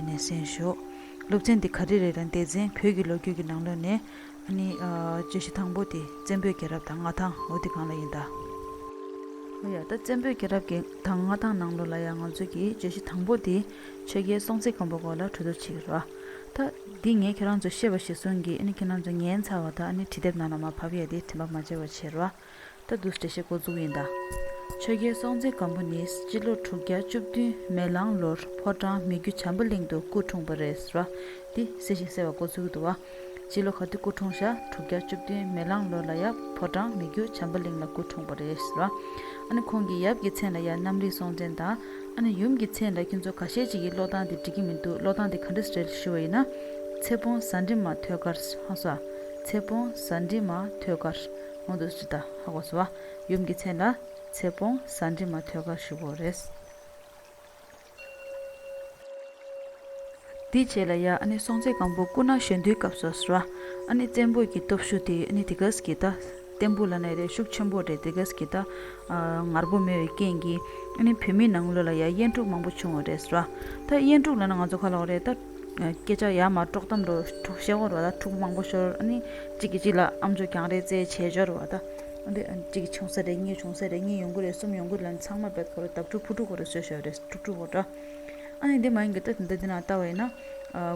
ནས་གསན་ཞོག། སློབ་ཚན་འདི་ག་རེ་རེ་ལ་འདས་ཚན་བོད་ཀྱི་ལོ་རྒྱུས་ཀྱི་ནང་ལོན་ནས། བརྗོད་གཞི་དང་པོ་དེ་བཙན་པོའི་རྒྱལ་རབས་དང་མངའ་ཐང་ལོ་དེ་གང་ལ་ཡིན་ད། ཨོ་ཡ་ད་བཙན་པོའི་རྒྱལ་རབས་ཀྱི་དང་མངའ་ཐང་ནང་ལོ་ལ་ཡང་ང་ཚོས་ཀྱི་བརྗོད་གཞི་དང་པོ་དེ་ཆོས་རྒྱལ་སྲོང་བཙན་སྒམ་པོ་སྐོར་ལ་གྲོས་བསྡུར་བྱེད་ཀྱི་རོགས། ད། འདི་ངས་ཁྱེད་རང་ཚོས་ཤེས་པ་ཞིག་གསུངས་གི་ཨ་ནི་ཁྱེད་རང་ཚོ་ངའི་མཚར་བ་དག་ཨ་ནི་བྲིས་དེབ་ནང་ལ་མ་ཕབ་ཡས་དེ་དྲི་མ་མ་བྱེད་པར་བྱེད་རོགས། ད་དུ་འགྲེལ་བཤད་འགོ་འཛུགས་ཡིན་ད། ཆོས་རྒྱལ་སྲོང་བཙན་སྒམ་པོ་ནི་སྤྱི་ལོ་དྲུག་བརྒྱ་བཅུ་བདུན་མེ་གླང་ལོར་ཕོ་བྲང་མི་རྒྱུད་བྱམས་པ་གླིང་དུ་སྐུ་འཁྲུངས་པ་རེད་ཟེར་བ་འདི་གསལ་ཞིང་གསལ་བ་འགོ་འཛུགས་ཀྱི་འདུག་བ། སྤྱི་ལོ་ག་དུས་སྐུ་འཁྲུངས་ཤག་དྲུག་བརྒྱ་བཅུ་བདུན་མེ་གླང་ལོར་ལ་ཡང་ཕོ་བྲང་མི་རྒྱུད་བྱམས་པ་གླིང་ལ་སྐུ་འཁྲུངས་པ་རེད་ཟེར་བ། ཨ་ནི་ཁོང་གི་ཡབ་ཀྱི་མཚན་ལ་ཡང་གནམ་རིག་སྲོང་བཙན་དང། ཨ་ནི་ཡུམ་གྱི་མཚན་ལ་ཁྱོད་ཚོ་ག་ཤེད་ཅིག་གིས་ཀློག་སྟངས་དེ་འགྲིག་གི་མི་འདུག་ཀློག་སྟངས་དེ་ག་འདྲ་རེད་ཞུ་བ་ཡིན་ན། ཚེ་སྤོང་ཟ་འདྲེ་མ་ཐོད་དཀར། ཧང་སོ། ཚེ་སྤོང་ཟ་འདྲེ་མ་ཐོད་དཀར། སྔོན་དུ་སྤྱི་དང་ཧ་གོ་ས་བ་ཡུམ་གྱི་མཚན་ལ་ཚེ་སྤོང་ས་འདྲི་མ་ཐོད་ཁར་བཞུགས་བོ་རེད། དེ་བྱས་ལ་ཡ་ཨནི་སྲོང་བཙན་སྒམ་པོ་སྐུ་ན་གཞོན་དུས་སྐབས་སོ་སོ་ར་ཨནི་བཙན་པོ་ཀྱི་སྟོབས་ཤུགས་དེ་ཨནི་དེ་ག་ཟིག་གིས་ད་བརྟན་པོ་ལ་ནས་རེ་ཤུགས་ཆེན་པོ་རེ་དེ་ག་ཟིག་གིས་ད་ངར་པོ་མེད་བའི་རྐྱེན་གྱིས་ཨནི་བོད་མི་ནང་ལོ་ལ་ཡ་དབྱེན་དཀྲུགས་མང་པོ་བྱུང་བོ་རེད་ཟེར་ར་ད་དབྱེན་དཀྲུགས་ལ་ན་ང་ཚོ་ཁ་ལོག་རེད་ད། སྐད་ཆ་ཡ་མ་དཀྲོག་གཏམ་འདྲོགས་འཁྲུག་ཤ་བོར་བ་དང་འཁྲུག་མང་པོ་ཤོར་ཨ་ནི་གཅིག་གིས་གཅིག་ལ་ཨམ་ཆོ་གྱང་རེད་ཙེ་བྱེད་སྦྱོར་བ་དང་ཨ་ནི་གཅིག་གིས་ཆུང་ས་རེད་གཉིས་ཆུང་ས་རེད་གཉིས་ཡོང་གི་རེད་གསུམ་ཡོང་གི་རེད་ཚང་མ་བེད་ཁོ་རེ་དྭབས་ཕྲུག་ཕུ་ཕྲུག་ཁོ་རེ་ཟོས་ཤོག་རེ་ཕྲུག་ཕྲུག་ཁོ་འདྲ་ཨ་ནི་དེ་མ་ཡིན་གི་ད་དེ་འདྲ་དེ་ནང་ལྟ་བ་ཡིན་ན་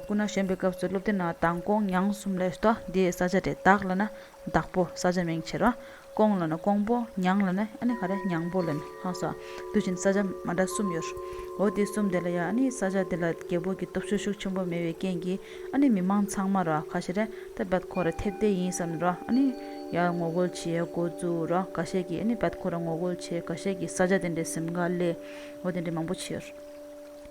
སྐུ་ན་གཞོན་པའི་སྐབས་སུ་སློབ་དེབ་ནང་དང་ཀོང་ཉང་གསུམ་ལས་ཟློག་འདི་ས་ཆ་རེད་དྭགས་ལ་ན་བདག་པོ་ས་བྱ་མིང་བྱེད་རོ། ཀོང་ལ་ནི་ཀོང་པོ། མྱང་ལ་ནི་ཨ་ནི་ག་རེ་མྱང་པོ་ལན། ཧང་སོ། དུས་བཞིན་ས་བྱ་མ་འདྲ་གསུམ་ཡོད། འོ་དེ་གསུམ་དེ་ལ་ཡང་ཨ་ནི་ས་བྱ་དེ་ལ་རྒྱལ་པོ་གྱི་སྟོབས་ཤུགས་ཤུགས་ཆེན་པོ་མེད་པའི་རྐྱེན་གྱིས་ཨ་ནི་མི་མང་ཚང་མར་རོ་ཁ་ཤས་རེ་ད་བད་ཁོ་ར་ཐེབས་བསྡད་ཡིན་བསམ་ནས་རོ་ཨ་ནི་ཡར་ངོ་རྒོལ་བྱེད་འགོ་བཙུགས་རོ་ག་ཤས་ཀྱིས་ཨ་ནི་བད་ཁོ་ར་ངོ་རྒོལ་བྱེད་ག་ཤས་ཀྱིས་ས་བྱ་དེ་འདྲའི་སེམས་དགའ་ལེའོ་དེ་འདྲའི་མང་པོ་བྱེད།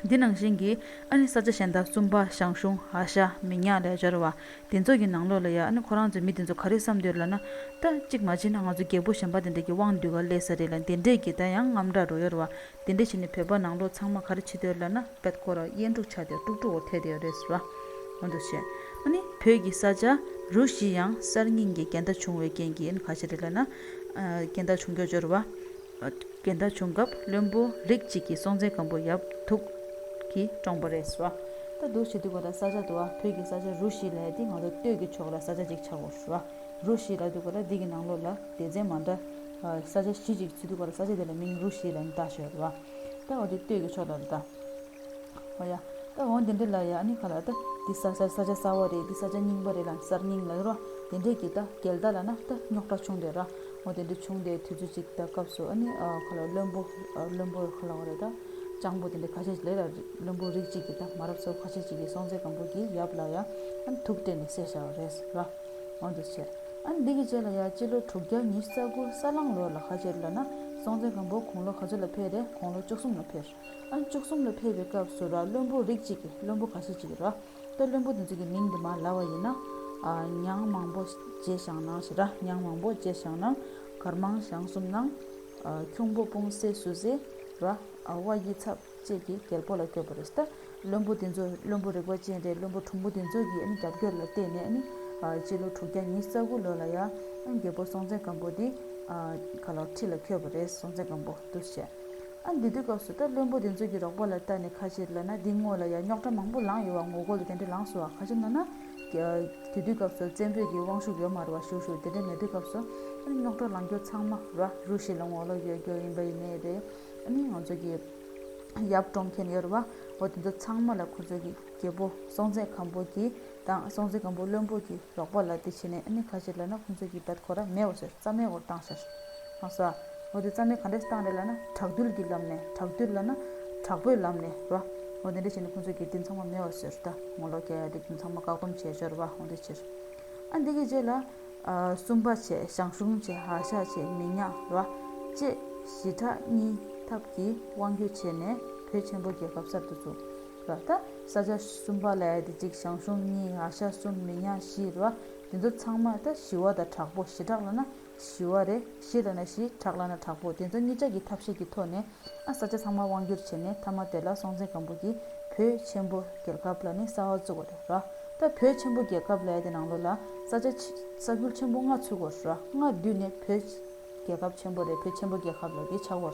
འདི་ནང་བཞིན་གྱི་ཨ་ནི་ས་ཆ་གཞན་དག་བཙུན་པ་ཞང་ཞུང་ཧ་ཤ་མི་ཉག་ལས་སྦྱོར་བ་འདི་ཚོ་ཡི་ནང་ལོགས་ལ་ཡ་ཨ་ནི་ཁོ་རང་ཚོས་མི་འདི་ཚོ་ག་རེ་བསམ་འདོད་ལ་ན་ད་ཅིག་མ་བྱེད་ན་ང་ཚོ་རྒད་པོ་གཞོན་པ་དེ་འདྲ་གི་དབང་འདུས་ག་ལས་ས་རེད་ལ་དེ་འདྲས་ཀྱི་ད་ཡང་རྔམ་དྲག་རོ་ཡོར་བ་དེ་འདྲས་བྱེད་ནས་བོད་པ་ནང་ལོགས་ཚང་མ་ག་རེ་བྱེད་འདོད་ལ་ན་པད་ཁོ་ར་གཡས་འབྲུག་ཆགས་ཏེ་ཀྲུག་ཀྲུག་བོར་ཐལ་ཏེ་ཡོད་རེད་ཟེར་བ་འོ་འདུག་བྱས་ཨ་ནི་བོད་ཀྱི་ས་ཆ་རུ་བཞི་ཡང་གསར་རྙིང་གི་རྒྱལ་ཟླ་བྱུང་བའི་རྐྱེན་གྱིས་ཨ་ནི་ག་ཤེད་རེད་ལ་ན་རྒྱལ་ཟླ་བྱུང་རྒྱུ་སྦྱོར་བ། རྒན་བདག་བྱུང་སྐབས་བློན་པོ་རིགས་གཅིག་གི་སྲོང་བཙན་སྒམ་པོ་ཡབ་དུག་གིས་བཀྲོངས་པ་རེད་ཟེར་བ། ད་དུག་བྱེད་དུས་གོ་ལ་ས་ཆ་དུ་བ་བོད་ཀྱི་ས་ཆ་རུ་བཞི་ལ་ཡ་དེ་ང་ཚོ་སྟོད་ཀྱི་ཕྱོགས་ལ་ས་ཆ་གཅིག་ཆགས་འགོ་ཟེར་བ། རུ་བཞི་ལ་དུ་གོ་ལ་འདི་གི་ནང་ལོགས་ལ་སྡེ་ཚན་མ་འདྲ། ས་ཆ་བཞི་གཅིག་བྱེད་དུས་གོ་ལ་ས་ཆ་དེ་ལ་མིང་རུ་བཞི་ལ་ནི་བཏགས་ཞེས་བ་རེད་བ། ད་འོ་དེ་སྟོད་ཀྱི་ཕྱོགས་ལ་རུ་བཏགས། ཨ་ཡ། ད་འོང་དེ་འདྲས་ལ་ཡ་ནི་ག་ལ་ད། འདི་ས་ཆར་ས་ཆ་སྲ་བོ་རེད་འདི་ས་ཆ་རྙིང་པ་རེད་ལ་གསར་རྙིང་ལ་ཡོད་རོ། དེ་འདྲས་ཀྱི་ད་གལ་ད་ལ་ན་ད་རྙོག་དྲ་བྱུང་འདྲས་ར། འོ་དེ་འདྲས་བྱུང་འདྲས་དུས་ཚོད་ཅིག་ད་སྐབས་སུ་ཨ་ནི་ག་ལ་བློན་པོ་བློན་པོ་ག་ལ་བ་རེད་ད། སྤྱང་པོ་དེ་འདྲས་ཁ་ཤས་ཅིག་ལས་ལ་བློན་པོ་རིགས་གཅིག་གི་ད་མ་རབས་ཚོ་ཁ་ཤས་ཅིག་གིས་སྲོང་བཙན་སྒམ་པོ་གྱི་ཡབ་ལ་ཡ་ཨ་ནི་ཐུགས་བཀྲེས་ནས་བསད་བཞག་རེད་ཟེར་ར། འོ་འདི་བྱས། ཨ་ནི་འདི་གི་རྗེས་ལ་ཡ་སྤྱི་ལོ་དྲུག་བརྒྱ་ཉིས་རྩ་དགུ་ས་གླང་ལོར་ལ་ཁ་ཆེར་ལ་ན་སྲོང་བཙན་སྒམ་པོ་གུང་ལོ་ག་ཚོད་ལ་ཕེབས་རེད་གུང་ལོ་བཅུ་གསུམ་ལ་ཕེབས། ཨང་བཅུ་གསུམ་ལ་ཕེབས་པའི་སྐབས་སུ་ར་བློན་པོ་རིགས་གཅིག་གིས་བློན་པོ་ག་ཤེད་ཅིག་ར་དཔེ་བློན་པོ་འདི་ཚོ་གི་མིང་འདི་མ་ལ་བ་ཡིན་ན། ཉང་མང་པོ་རྗེས་ཞང་ནང་ཞེས་ར་ཉང་མང་པོ་རྗེས་ཞང་ནང་གར་མང་ཞང་གསུམ་ནང། ཁྱུང་པོ་སྤུང་བསེ་སུ་བསེ་ར་བ་དབྱི་ཚབ་བཅས་ཀྱི་རྒྱལ་པོ་ལ་བསྐོས་པ་རེད། བློན་པོ་འདི་ཚོ་བློན་པོ་རིག་པ་ཅན་རེད་བློན་པོ་གྲུང་པོ་འདི་ཚོ་གི་རྒྱབ་སྐྱོར་ལ་བརྟེན་ནས་ནི་སྤྱི་ལོ་དྲུག་བརྒྱ་ཉིས་རྩ་དགུ་ལོ་ལ་ཡང་རྒྱལ་པོ་སྲོང་བཙན་སྒམ་པོ་འདི་ག་ལ་ཁྲི་ལ་འཁྱོལ་བ་རེད་སྲོང་བཙན་སྒམ་པོ་འདུ་ཤེས། ཨ་འདི་དུས་སྐབས་སུ་སྐྲ་བློན་པོ་དེ་ཚོས་ཀྱི་རོགས་པ་ལ་ལྟ་ནས་ཁ་ཕྱིར་ལོན་ན་འདི་དངོས་ལ་ཡང་རྙོག་དྲ་མང་པོ་ལངས་ཡོད་བ་ངོ་རྒོལ་ལ་དེ་འདྲ་ལངས་སོང་བ་ག་ཅིག་ནོར་ན། དེ་དུས་སྐབས་སུ་བཙན་པོས་ཀྱི་དབང་ཤུགས་ཡོད་མ་རུ་བ་ཞུ་ཞུ་དེ་འདྲ་མེད་དུས་སྐབས་སུ། ཨ་ནི་རྙོག་དྲ་ལངས་རྒྱུ་ཚང་མ་ར་རུ་ཞིག་ལ་ངོ་ལོག་ཡོད་རྒྱུ་ཡིན་པ་ཡིན་ནའི་རེད། ཨ་ནི་ང་ཚོས་ཀྱི་ཡབ་བཀྲོངས་མཁན་ཡོད་རུ་བ་བོ་དེ་ཚོ་ཚང་མ་ལ་ཁོ་ཚོས་ཀྱི་རྒྱལ་པོ་སྲོང་བཙན་སྒམ་པོ་ཀྱི་དང་སྲོང་བཙན་སྒམ་པོ་བློན་པོ་གྱིས་རོགས་པ་ལ་དེ་བྱས་ནས་ཨ་ནི་ཁ་ཤས་ལ་ན་ཁོང་ཚོས་ཀྱི་བད་ཁོ་ར་མེད་བ་ཞེས་རྩ་མེད་བོར་བཏང་ཞེས་གནང་ས། འོ་དེ་རྩ་མེད་ག་འདྲས་སུ་བཏང་རེད་ལ་ན་དྲག་འདུལ་གྱི་ལམ་ནས་དྲག་འདུལ་ལ་ན་དྲག་པོའི་ལམ་ནས་ར་འོ་དེ་འདྲས་བྱས་ནས་ཁོང་ཚོས་ཀྱི་དེ་ཚང་མ་མེད་བ་ཟེར་ད་ངོ་ལོག་གྱ་ཡ་དྲིག་དེ་ཚང་མ་བཀག་སྡོམ་བྱས་ཞོར་བ་འོ་དེ་ཕྱིར་ཨ་འདི་གི་རྗེས་ལ་སུམ་པ་བྱས་ཞང་ཞུང་བྱས་ཧ་ཤ་བྱས་མི་ཉག་ར་བཅས་བཞི་ཕྲག་གཉིས་ཐབས་ཀྱིས་དབང་སྒྱུར་བྱས་ནས་བོད་ཆེན་པོ་རྒྱལ་ཁབ་གསར་དུ་བཙུགས། ལ་ད་ས་ཆ་གསུམ་པ་ལས་དེ་གཅིག་ཞང་ཞུང་གཉིས་ང་ཤ་གསུམ་མི་ཉག་བཞི་རེད་བ་དེ་ཚོ་ཚང་མ་ད་བཞི་བ་དང་དྲག་པོ་བཞི་དྲག་ལ་ན་བཞི་བ་རེད་བཞི་དང་ན་བཞི་དྲག་ལ་ན་དྲག་པོ་དེ་ཚོ་གཉིས་ཅག་གི་ཐབས་ཤེས་ཀྱི་ཐོག་ནས་ཨ་ས་ཆ་ཚང་མ་དབང་བསྒྱུར་བྱས་ནས་མཐའ་མ་དེ་ལ་སྲོང་བཙན་སྒམ་པོ་གྱིས་བོད་ཆེན་པོ་རྒྱལ་ཁབ་ལ་ནི་གསར་བ་བཙུགས་བ་རེད་ར་ད་བོད་ཆེན་པོ་རྒྱལ་ཁབ་ལས་དེ་ནང་ལོ་ལ་ས་ཆ་ས་ཁུལ་ཆེན་པོ་ལྔ་ཚུགས་བ་ར་ལྔ་བསྡུས་ནས་བོད་རྒྱལ་ཁབ་ཆེན་པོ་རེད་བོད་ཆེན་པོ་རྒྱལ་ཁབ་ལ་དེ་ཆགས་བར